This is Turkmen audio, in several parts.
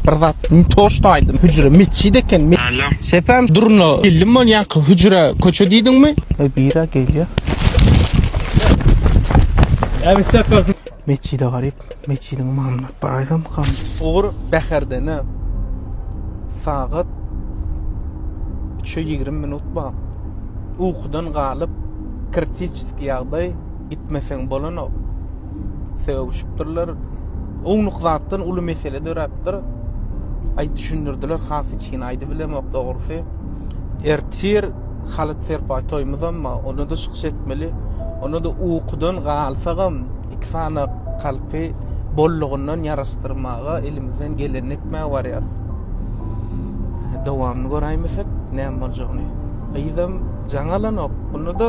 Bir zat toşt aýdym hüjre metjit eken. Sepem durna illim bolýanka hüjre köçe diýdiňmi? Ey bira gelýä. Äbi sepem. Metjide garyp metjidiň mamlap bir aýdym kam. Ugur Bäherdene sagat üçe ýigrimi minut bar. Ukudan galyp kritiçeski ýagdaý gitmeseň bolanok. sögüşipdirler. Ownuk zatdan uly mesele döräpdir. Aý düşündirdiler, has hiç kim aýdyp bilemok dogrusy. Ertir Halyt Serpaý toýumyzam bar, onda da çykyş etmeli. Onda da ukudan galsagam, iki sany kalpy bollugyndan ýaraşdyrmaga elimizden gelenini etmäge barýarys. Dowamyny göräýmesek, näme boljagyny. Gyzam jaň alanok. Onda da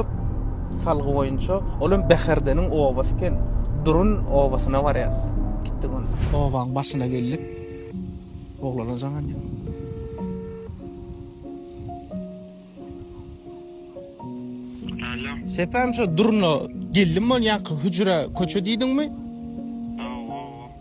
salgy boýunça, ol hem Bäherdeniň obasy eken, Durun obasyna barýas. Gitdi gün. Obaň başyna geldik. Oglana jaň edýän. Alo. Sepem şo Duruna geldim bolýanka hüjre köçe diýdiňmi?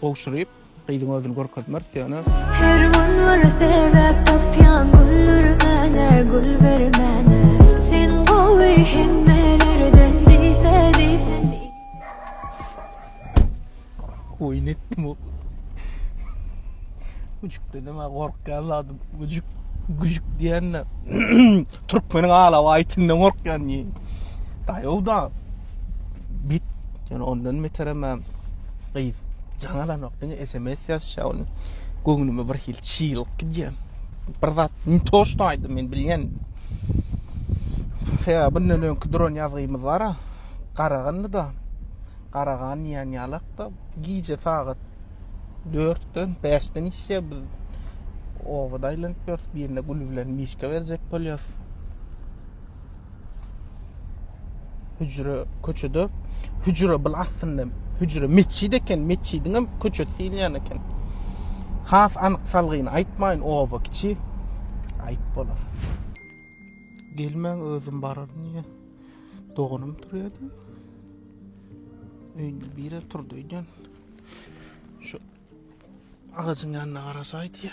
Gowşuryp, gyzyň özüni görkezmez söýene. Her gün bir sebäp tapýan güldürmäne, gül bermäne. Sen gowy hemmelerden diýse diýsin. Oýun etdim o. Güjük dedim ha gorkýan zadym. Güjük, güjük diýende türkmeniň alaw aýtyndan gorkýan diýen. Daýow da bit, ýöne ondan beterem. Gyz, jaň alanok, diňe sms ýazyşýa ony. Göwnüme bir hili çylyk gidýär. Bir zat ne to şu aýdy men bilýän. Sebäbi bundan öňki duran ýazgymyz bar-a. Garagandy da. Garagan diýen ýalakda gije sagat 4-den 5-den işe biz obada aýlanyp ýörüs. Birine gül bilen mişka berjek bolýas. Hücre köçede hücre bul aslynda hücre metjid eken, metjidiň hem köçesi diýilýän eken. Has anyk salgyny aýtmaýyn, oba kiçi aýyp bolar. Gelmäň özüm bararyn diýen. Doganym turýardy. Öýünde biri turdy öýden. Şu agajyň ýanyna garaşaýdy.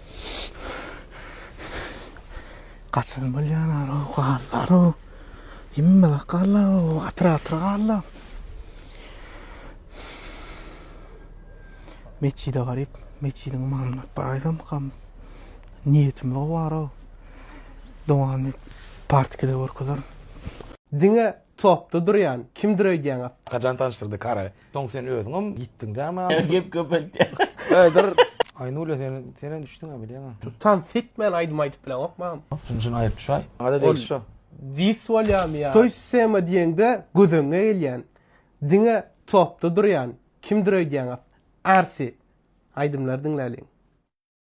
Gaçan bolýarlar o gallar o. Hemme gallar o atyr atyr gallar. Meçide garyp, meçidiň mamluk baýdam kam. Niýetim o bar o. Dowany partikada görkezer. Diňe topda durýan kimdir öýdýäňiz. Hacan tanyşdyrdy kara Soň sen özüňem ýitdiň dämi adam. Gep köpeltýär. Aýnule sen senä düşdüňä bilýäňä. Tans etmän aýdym aýdyp bileňokma. Şunuň üçin aýyp şaý. Ada degişli şo. Dis bolýamy ýa. Toý sema diýeňde göz öňüňe gelýän. Diňe topda durýan. Kimdir öýdýäňiz. Arsi. Aýdymlary diňläliň.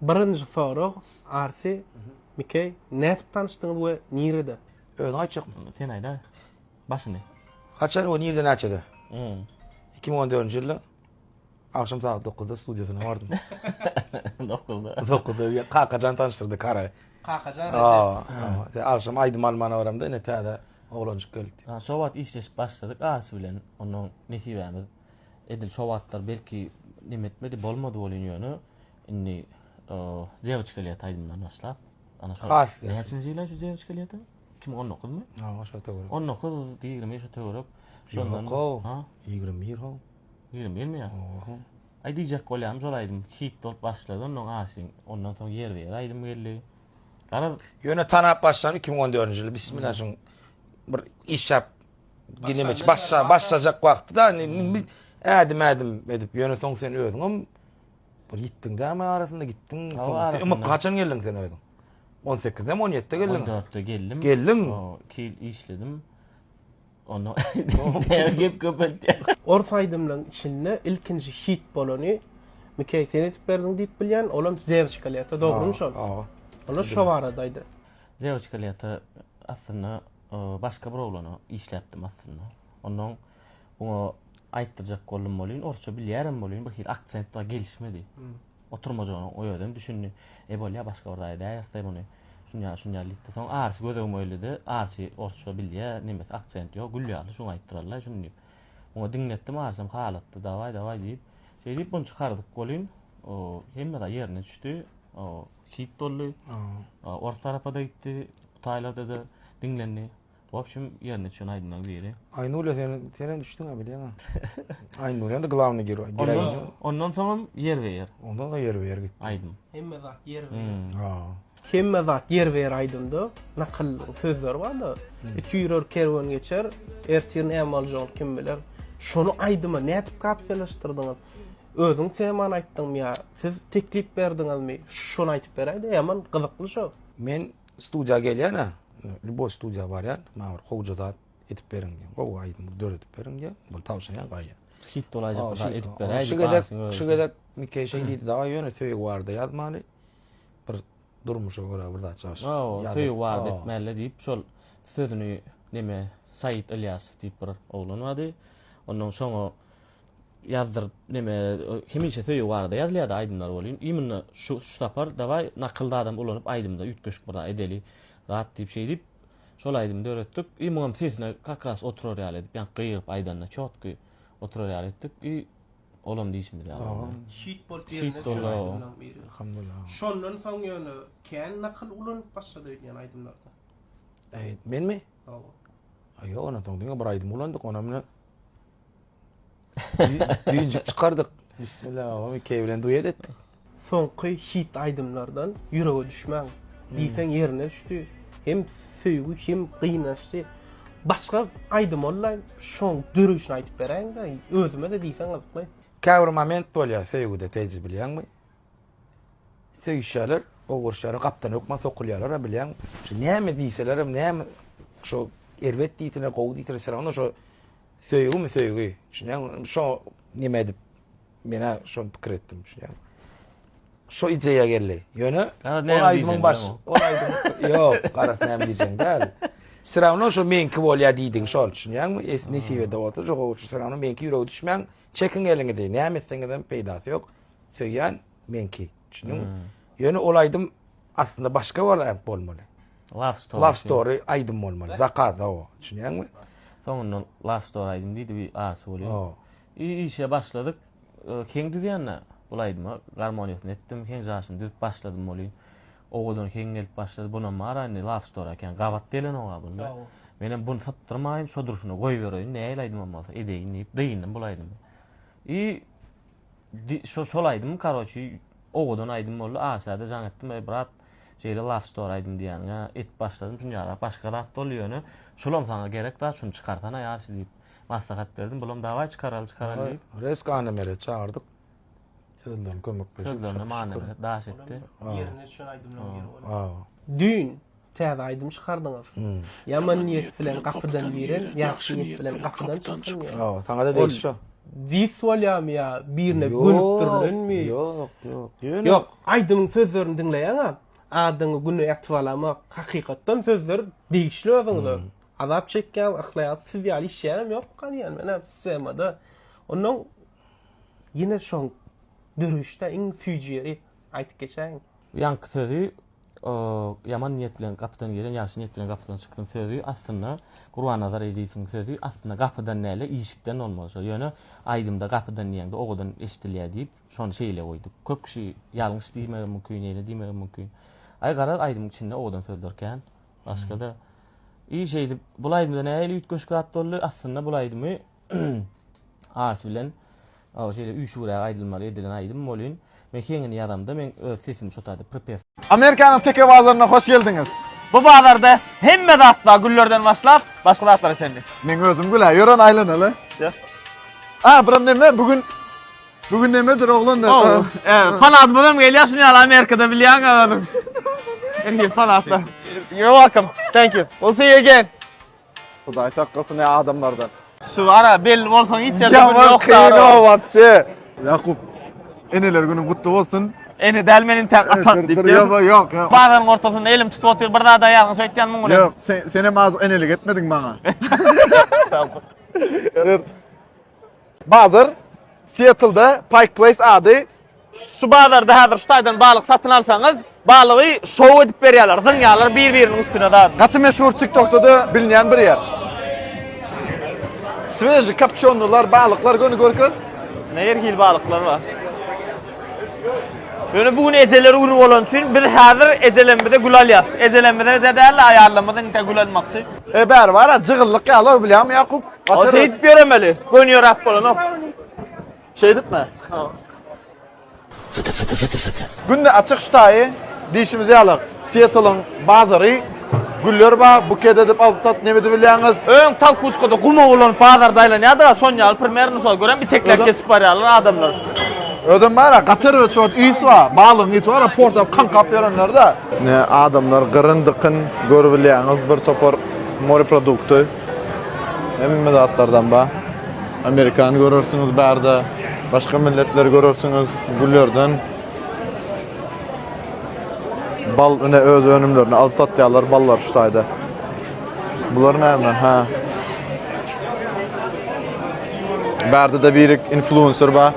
Birinji sorag Arsi Mikeý nädip tanyşdyňyz we nirede? Özi aýtjak sen aýda başyny. Haçan we nirede näçede? Iki müň on dördünji ýylda agşam sagat dokuzda studiýasyna bardym. Dokuzda. Dokuzda Kakajan tanyşdyrdy Kara. Kakajan Rejep. Agşam aýdym almana baramda ine täze oglanjyk gelipdi. Şo wagt işleşip başladyk Arsi bilen ondan nesibämiz. Edil şo wagtlar belki neme etmedi, bolmady bolýan ýöne indi Dewçka lýet aýdymdan başlap. Ana şo. Näçinji ýyla şu Dewçka lýetin? 2019-my? Ha, şo töwerek. 19, 20 şo töwerek. Şondan ha, 21 ho. 21 mi ýa? Oho. Aý diýjek bolýam, şol aýdym hit bolup başlady, ondan aşyn, ondan soň ýer ýer aýdym geldi. Garaz, ýöne tanap başlan 2014-nji ýyl bismillah şoň bir iş ýap Ginemeç başla başlajak wagty da indi ädim ädim edip ýöne soň sen özüňem bir gitdiň däme arasynda gitdiň. Soň kaçan geldiň sen özüň? 18-de 17-de geldiň. 14-de geldim. Geldiň. 2 ýyl işledim. Onu gep köpeltdi. Ors aýdymlaryň içinde ilkinji hit bolany Mikey sen edip berdiň diýip bilýän, olam Zewçka leta, dogrymy şol? Ola şo baradaýdy. Zewçka leta aslynda başga bir oglana işläpdim aslynda. Ondan oňa aýtdyrjak boldum bolýyn, orsça bilýärem bolýyn, bir hili aksent bar gelişmedi. Hmm. Oturmajagyny o özem düşündi. E bolýa başga bir zat edäýerse muny. Şunýa şunýa diýdi. Soň arsy gözegim öýledi. Arsy orsça bilýär, nemes aksent ýok, gül ýaly şuňa aýtdyrarlar şuny diýip. Oňa diňletdim arsam halatdy, daway daway diýip. Şeýdip bunu çykardyk bolýyn. O hemme zat ýerine düşdi. O hit boldy. Ors tarapa da gitdi, taýlarda da diňlendi. Wobşem ýerine düşen aýdymlaryň biri. Aýnura sen sen hem düşdüň-ä bilýäň-ä. Aýnura hem glawny giro. Ondan soňam ýer be ýer. Ondan soň ýer be ýer gitdi. Aýdym. Hemme zat ýer be ýer. Ha. Hemme zat ýer be ýer aýdymda nakyl sözler bar-da. Üç ýürer kerwen geçer, ertirin näme boljagyn kim biler. Şony aýdyma nädip kapyýalaşdyrdyňyz? Özüň temany aýtdyňmy ýa siz teklip berdiňizmi şony aýtyp beräýde ýaman gyzykly şo. Men studiýa gelýän-ä, lýuboý studiýa barýan, maňa bir gowja zat edip beriň diýen, gowy aýdym döredip beriň diýen, bul tabşyrýan gaýa. Hit bolaýjak bir zat edip beräýdi. Şu gezek, şu gezek Mikeý şeý diýdi daga, ýöne söýgi barada ýazmaly, bir durmuşa görä bir zat ýaz. Hawa, söýgi barada etmäli diýip, şol sözüni neme Saýit Ylýasow diýip bir oglan bardy. Onnoň şoňa ýazdyryp neme hemişe söýgi barada ýazylýada aýdymlar welin imенно şu şu sapar dawaý nakyl zadam ulanyp aýdymda üýtgeşik bir zat edeli zat diýip şeýdip şol aýdymy döretdik i muňam sesine kak ras oturar ýaly edip ýaňky gygyryp aýdanda çotky oturar ýaly etdik i olam diýşimiz ýaly boldy hit bolup ýerine düşen aýdymlaň biri Elhamdullah şondan soň ýöne kän nakyl ulanyp başlady öýdýän aýdymlarda menmi hawa ýok ondan soň diňe bir aýdym ulandyk onam ine Düýnjük çykardyk. Bismillah agam ikeý bilen duet etdik. Soňky hit aýdymlardan ýürege düşmäň diýseň ýerine düşdi. Hem söýgi hem gynançly. Başga aýdym boldaý şoň döreýşini aýdyp beräýiňdä özümede diýseň gyzykly. Käbir moment bolýar söýgüde teje bilýäňmi? Söýüşýärler, oguruşýarlar gapdan hökman sokulýarlara bilýäň. Şu näme diýselerem näme şo erbet diýsinler gowy diýsinler şo Söýgimi söýgi düşünýäňmi? Indi şo nime edip men-ä şony pikir etdim düşünýäňmi? Şo ideýa geldi. Ýöne ol aýdymyň baş, ol aýdym ýok, garaz näme diýjegiň däl. Syrawno şo meňki bolýa diýdiň şol düşünýäňmi? Es nesibede bolsa şo gowy şu syrawno meňki ýürege düşmäň, çekiň eliňizi, näme etseňizem peýdasy ýok. Söýýän Meňki. Düşündiňmi? Ýöne ol aýdym aslynda başga bolýar bolmaly. Love story. Love story aýdym bolmaly. Zakaz o. Düşünýäňmi? Soňunda love story aýdym diýdi bir arsy bolýar. I işe başladyk. Keň düzýände bu aýdymy garmoniýasyny etdim, keň jaşyny düzüp başladym bolýa. Owadan keň gelip başlady. Bunam bar-a indi love story ekeni. Gabat gelenok-a bunda. Menem buny sypdyrmaýyn, şo durşuna goýbereýin. Nähili aýdymam bolsa edeýin diýip, dynyndym bu aýdymy. I Şo şol aýdym karoçi owadan aýdym boldy aşada jaň etdim eý brat şeýle love story aýdym diýýäňä edip başladym şun ýaly başga zat boldy ýöne şulam saňa gerek zat şuny çykarsana ýaşy diýip maslahat berdim bulam dawaý çykaraly çykaraly diýip. Resk Annemere çagyrdyk sözlerini kömekleşip. Sözlerine Mannebret daş etdi. Ýerine düşen aýdymlaryň biri bolýar. Düýn. Täze aýdym çykardyňyz. Ýaman niýet bilen gapydan giren, ýagşy niýet bilen gapydan çykyn diýen. Hawa, saňa-da degişli şo. Dis bolýamy ýa birine gönükdirilenmi? Ýok, ýok, ýok. Ýok, aýdymyň sözlerini diňleýäň-ä, adyňy güni ýatyp alamak, hakykatdan sözler degişli özüňize. Azap çekýän, yhlaýan siz ýaly işleýänem ýok-a diýýän men-ä sistemada. Onnoň ýene şoň dörüşde iň süýji ýeri aýdyp geçäýiň. Ýaňky sözi Ýaman niýet bilen gapydan giren ýagşy niýet bilen gapydan çyksyn sözi aslynda Gurbannazar Ezizowyň sözi aslynda gapydan däl-de işikden bolmaly şo ýöne aýdymda gapydan diýeňde owadan eşidilýär diýip şony şeýle goýduk köp kişi ýalňyş diýmegem mümkin ýene diýmegem mümkin aý garaz aýdymyň içinde owadan sözler kän başgada iş eýdip bul aýdymda nähili üýtgeşik zat boldy aslynda bul aýdymy Arsy bilen o şeýle üýşügräk aýdylmaly edilen aýdym bolyn. Men heňini ýazamda men öz sesimi şotaýda prpes. Amerikanyň teke bazaryna hoş geldiňiz. Bu bazarda hemme zat bar güllerden başlap başga zatlara çenli. Meň özüm gülä ýören aýlanaly. Yes. A buram neme bu gün bu gün nemedir oglan da. Oh, fanatymyzam gelýär şuny ýaly Amerikada bilýäň özüň. Elgi fanatlar. You're welcome. Thank you. We'll see you again. Hudaý saklasyn ya adamlardan. Şu ara belli bolsaň hiç ýerde gün Ýaman ýokdar. kyn o. wapse. Yakup. Eneler günüň gutly bolsun. Ene däl men intäk atak Dur, diýip. dur, Yok yok yok. Bazaryň ortasynda elim tutup otyr bir zada ýalňyş öýtýän muňa. Yok sen, sen hem azık enelik etmediň bana. Dur. Bazar Sietlde Pike Place ady. Şu bazarda häzir şu taýdan balyk satyn alsaňyz, balygy şou edip berýärler, zyňýarlar bir-biriniň üstüne zat. Gaty meşhur TikTokda-da bilinýän bir ýer. Sveži kopçonylar, balyklar göni görkez. Her hil balyklar bar. Ýöne bu gün ejeler güni bolany üçin biz häzir ejelerimize gül alýas. Ejelerimize-de däl-de aýallarymyza intä gül almakçy. E bäri bar-a, jygyllyk ýaly-ow bilýäňmi Ýakup? Ama Atarız. seyit göremeli. Gön yorap bolanok. Şey edip mi? Günde açyk ştaýy dişimizi ýalak. Seattle-yň bazary güller bar, buket edip alyp sat neme edip bilýäňiz? Öň tal kuskada guma bolan bazarda aylanýardy. Son ýaly primerno şol görem bir teklek Öyle. geçip barýarlar adamlar. Özüm bar ya, Katar ve çoğut iyisi var. Balığın iyisi var ya, portap kan kap verenler de. Ne adamlar gırın dıkın görübilýäňiz bir topar moreprodukty. Hemme zatlardan bar. Amerikany görersiňiz bärde, başga milletleri görersiňiz, güllerden. Bal ine öz önümlerini alyp satýarlar, ballar şu taýda. Bular näme? Ha. Bärde de birik influencer bar.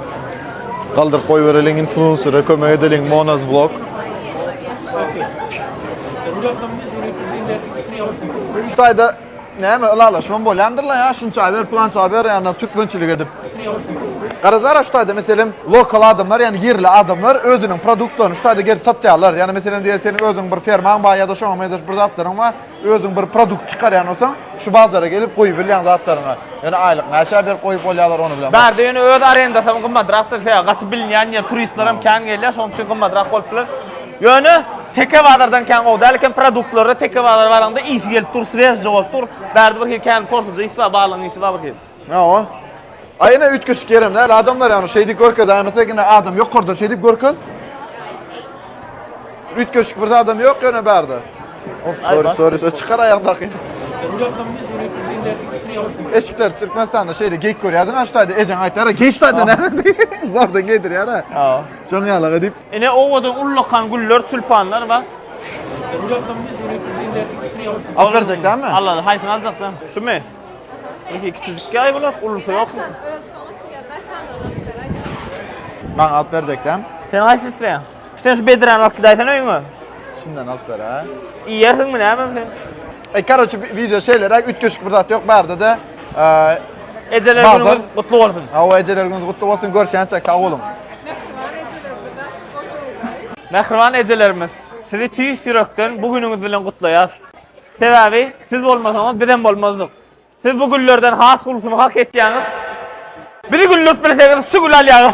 Galdyryp goýbereliň influencere kömek edeliň Monaz vlog. Üç taýda näme ylalaşmam bolýandyrla ýa şunça ber plança ber ýa türkmençilik edip. Garazara şu taýda meselem lokal adamlar ýa ýerli adamlar özüniň produktlaryny şu taýda gelip satýarlar. Ýa meselem diýe seniň özüň bir fermaň bar ýa-da şoňa meňzeş bir zatlaryň bar. Özüň bir produkt çykarýan bolsaň. Şu bazara gelip goýubilýän zatlaryňy, ýöne aýlyk näçä berip goýup bolýarlar ony bilemok. Bärde ýöne öz arendasy hem gymmatrakdyr, sebäbi gaty bilinýän ýer, turistler hem kän gelýär, şonuň üçin gymmatrak bolup biler. Ýöne teke bazardan kän gowy däl eken, produktlary-da teke bazara baraňda ysy gelip dur, swezje bolup dur. Bärde bir hili kän porsujy ysy bar, balygyň ysy bar bir hili. Hawa. Aýna üýtgeşik ýerem däl adamlar ýagny şeýdip görkez aýna tegine adam ýokardan şeýdip görkez. Üýtgeşik bir zadam ýok ýöne bärde. Of sorry sorry sorry çykar aýakdaky. Eşikler Türkmenistanda şeýle geýip görýärdiň aştaýda ejeň aýtýar ha geýç taýda näme diýip zordan geýdirýär ha. Hawa. Şoň ýaly edip. Ine owadan ullakan güller tülpanlar bar. Alyp berjek dälmi? Alal haýsyny aljaksaň? Şumy? Öňki kiçijik ýaý bular, ulysy ýokmy? Maňa alyp berjekdäm. Sen haýsy isleýäň? Sen şu bedräni alyp gidäýsene öýüňe. Şundan alyp beräý. Iýersiňmi näme sen? Eý, karoçi, wideo şeýleräk, üýtgeşik bir zat ýok bärde-de. Ejeler günüňiz gutly bolsun. Hawa, ejeler günüňiz gutly bolsun. Görüşýänçäk, sag boluň. Mähriban ejelerimiz, sizi tüýs ýürekden bu günüňiz bilen gutlaýarys. Sebäbi siz bolmasaňyz bizem bolmazdyk. Siz bu güllerden has ulusyny hak etýäňiz. Bizi güldürip bilseňiz şu gül alýaňyz.